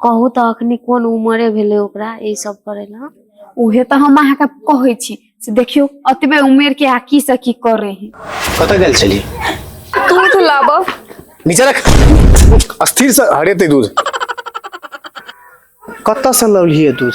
कहू तऽ अखनी कोन उमरे भेलै ओकरा ई सब करै लए उहे तऽ हम अहाँके कहै छी से देखियौ अतबे उमेर के आ की से की करे है कतऽ गेल छली दूध लाबऽ नीचे रख अस्थिर से हरेते दूध कतऽ से लौलिए दूध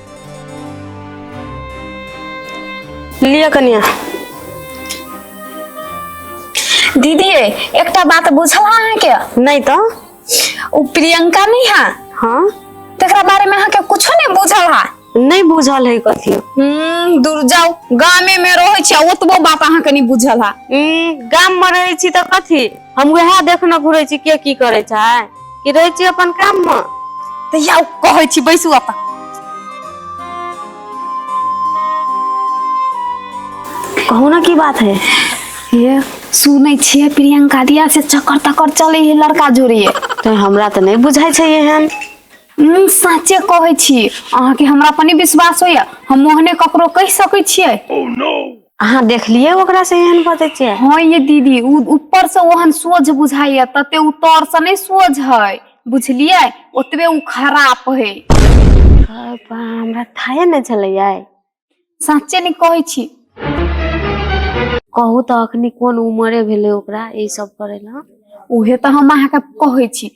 लिअ कनिया दीदी रे एकटा बात बुझल अहाँके नहीं तो ओ प्रियंका नहीं है हाँ तेरा बारे में अहाँके कुछो नहीं बुझल है नहीं बुझल है कथी हम्म, दूर जाओ गामे में रहे छी ओतबो बात अहाँके नहीं बुझल है हम्म, गाम में रहे छी तो कथी हम वएह देखने घुरे छी के की करे छै कि रहे छी अपन काम में तहिया ओ कहै छी बैसू अपन कहू ना की बात है ये सुनै छियै प्रियंका दिया से चक्कर तक्कर चलै है लड़का जोड़िए तो हमरा तो नहीं बुझाई छै एहन हम साँचे कहै छी अहाँके हमरा पर नहि विश्वास होइए हम ओहने ककरो कहि सकै छियै अहाँ देखलियै ओकरा से एहन बजै छियै हँ ये दीदी उ ऊपर से ओहन सोझ बुझाइये तते उ तर से नहि सोझ हय बुझलियै ओतबे उ खराप हय गै बा हमरा थाए नहि छलैयै साँच्चे नहि कहै छी कहू तऽ अखनी कोन उमरे भेलै ओकरा ई सब करै लए उहे तऽ हम अहाँके कहै छी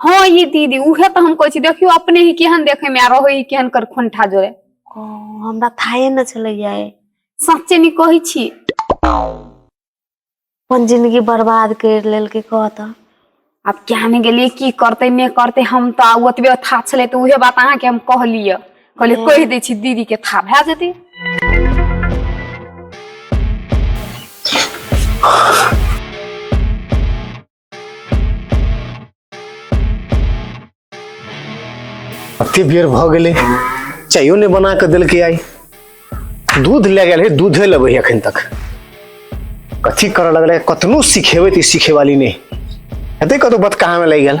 हँ ये दीदी उहे तऽ हम कहै छी देखियौ अपने ही केहन देखे में आ रहे ही केहन कर खोंठा जोड़े ओ हमरा थाहे ने छलैया ए। सच्चे नी कहै छी अपन जिंदगी बर्बाद कर लेलकै कह तऽ आब किया ने गेलियै की करते नहि करते हम तऽ आब ओतबे था छलै तऽ उहे बात अहाँके हम कहलियै कहलियै हँ। कहि दै छी दीदी के था भए जेतै अति बेर भऽ गेलै चायो नहि बना कऽ देलकै आइ दूध लए गेल है दूधे लेबै है एखन तक कथी करऽ लगलै कतनो सिखेबै तऽ ई सिखेवाली नहि हेतै कतौ बतकामे लागि गेल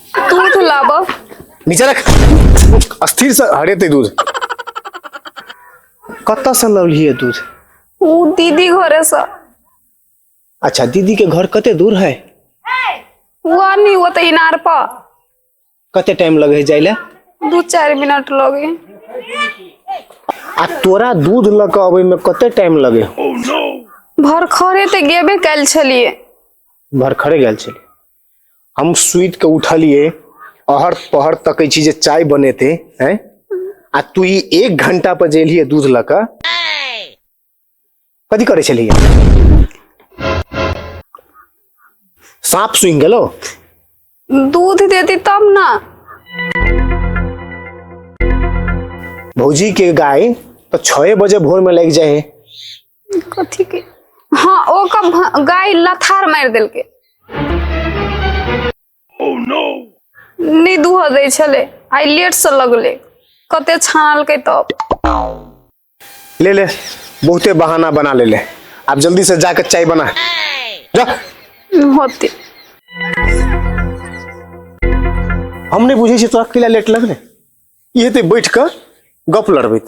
तू तू लाभ नीचे रख अस्थिर से हरेते दूध कतऽ से लौलिए दूध ऊ दीदी घरे से अच्छा दीदी के घर कते दूर है वो आदमी वो तो इनार पर कते टाइम लगे है जाइले दू चार मिनट लगे आ तोरा दूध लऽ कऽ अबै में कते टाइम लगे भर खरे ते गेबे कल छलिए भरखरे गेल छली हम सुति के उठलिए अहर पहर तकै छी जे चाय बनेते हैं आ तू ई एक घंटा पर जेलिए दूध लऽ कऽ कथी करै छलिए साँप सुनि गेलो दूध देती तब ना भौजी के गाय तो छः बजे भोर में लग जाए कथी के हाँ ओकर भ- गाय लथार मारि देलकै नहि दूह दै छलै आइ लेट से लगलै कते छानलकै तब ले ले बहुते बहाना बना ले ले आप जल्दी से जाकर चाय बना जा होते हम नहीं बुझे छी तोरा किला लेट लगले ये ते बैठ कर गप लड़बैत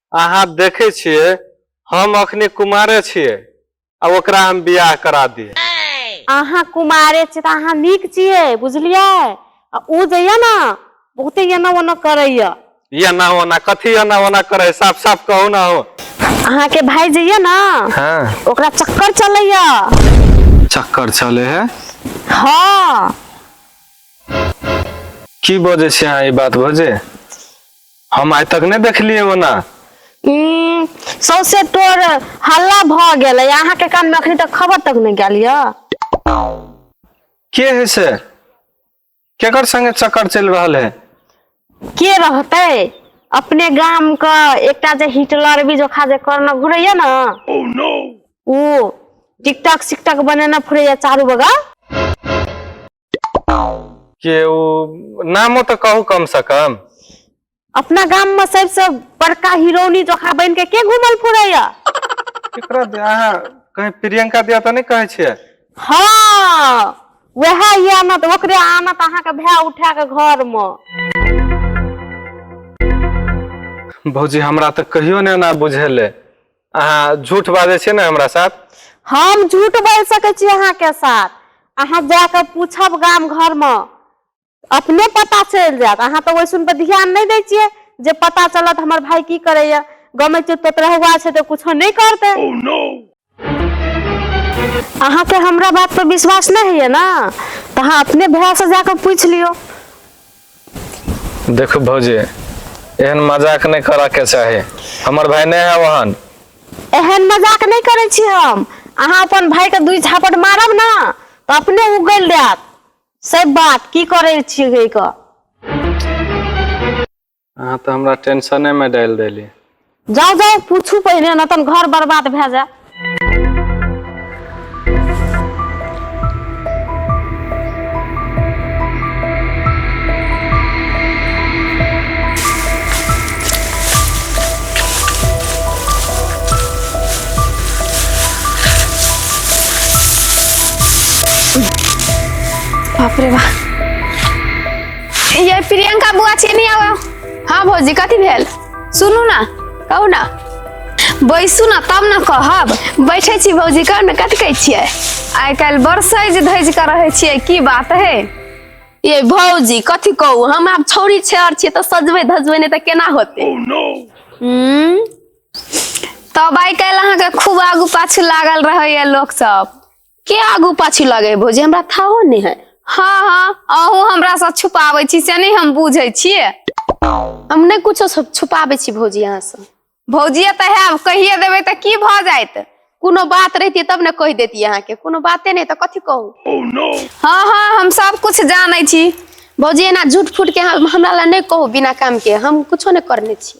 अहाँ देखै छियै हम अखने कुमारे छियै आ ओकरा हम बियाह करा दिए अहाँ कुमारे छियै तऽ अहाँ नीक छियै बुझलियै आ ओ जे यऽ ने बहुते एना ओना करैया एना ओना कथी एना ओना करे है? साफ साफ कहू ना हो अहाँके भाय जे यऽ ने हाँ ओकरा चक्कर चलैया चक्कर चले है हँ की बजे से अहाँ ई बात बजे हम आइ तक नहि देखलियै ओना हम्म, सौंसे टोर हल्ला भऽ गेलै अहाँके कान में अखनी तक खबर तक नहीं गेल यऽ के है से केकर संगे चक्कर चलि रहल है के रहते अपने गाम के एकटा जे हिटलर भी जोखा जे करना घुरैया ना ओ टिकटॉक सिकटॉक बनेना फुरैया चारू बगल के ओ नामो तऽ कहू कम से कम अपना गाम में सबसे बड़का हिरोनी जोखा बन के के घूमल फुरैया केकरा दे अहाँ कहीं प्रियंका दिया तऽ नहि कहै छियै हाँ वह ये आनत ओकरे आनत अहाँ के भय उठा के घर में भौजी हमरा तऽ कहियो नहि एना बुझेले अहाँ झूठ बाजै छियै ने हमरा साथ हम झूठ बोल सकै छी अहाँ के साथ अहाँ जा के पूछब गाम घर में अपने पता चल जात अहाँ तो वैसन पर ध्यान नहीं दे छे जे पता चलत हमर भाई की करे या गमे में चुप तो हुआ छे तो कुछ नहीं करते oh, no! अहाँ के हमरा बात पर विश्वास नहीं है ना तो अहाँ अपने भैया से जाकर पूछ लियो देखो भौजी एहन मजाक नहीं करा के चाहे हमर भाई नहीं है वहन एहन मजाक नहीं करे छी हम अहाँ अपन भाई के दुई झापट मारब ना तो अपने उगल देत सब बात की करे छी गई का अहाँ तो हमरा टेंशने में डाल देली जाउ जाउ पूछू पहिने ने तन घर बर्बाद भए जाय बाप रे बाप ये प्रियंका बुआ छेनी आवा हाँ भौजी कथी भेल सुनू ना कहू ना बैसू ना तब ना कहब बैठे छी भौजी कहू ना कथी कहै छियै आइ काल्हि बड़ सजि धजि कऽ रहै छियै की बात है ये भौजी कथी कहू हम आब छौरी छेहर छियै तऽ सजबै धजबै नहि तऽ केना होतै हम्म, तब आइ काल्हि अहाँके खूब आगू पाछू लागल रहैए लोकसभ के आगू पाछू लगे है भौजी हमरा थाहो नहीं है हाँ हाँ अहू हमरा से छुपाबै छी से नहीं हम बुझै छियै हम नहीं कुछो सब छुपाबै छी भौजी अहाँ से भौजिया तऽ है कहिए देबै तऽ की भऽ जायत कोनो बात रहती तब ने कह देती अहाँ के कोनो बाते नहीं तो कथी कहू हाँ हाँ हम सब कुछ जानै छी भौजी एना झूठ फूट के हम- हमरा ला नहीं कहू बिना काम के हम कुछो नहीं करने छी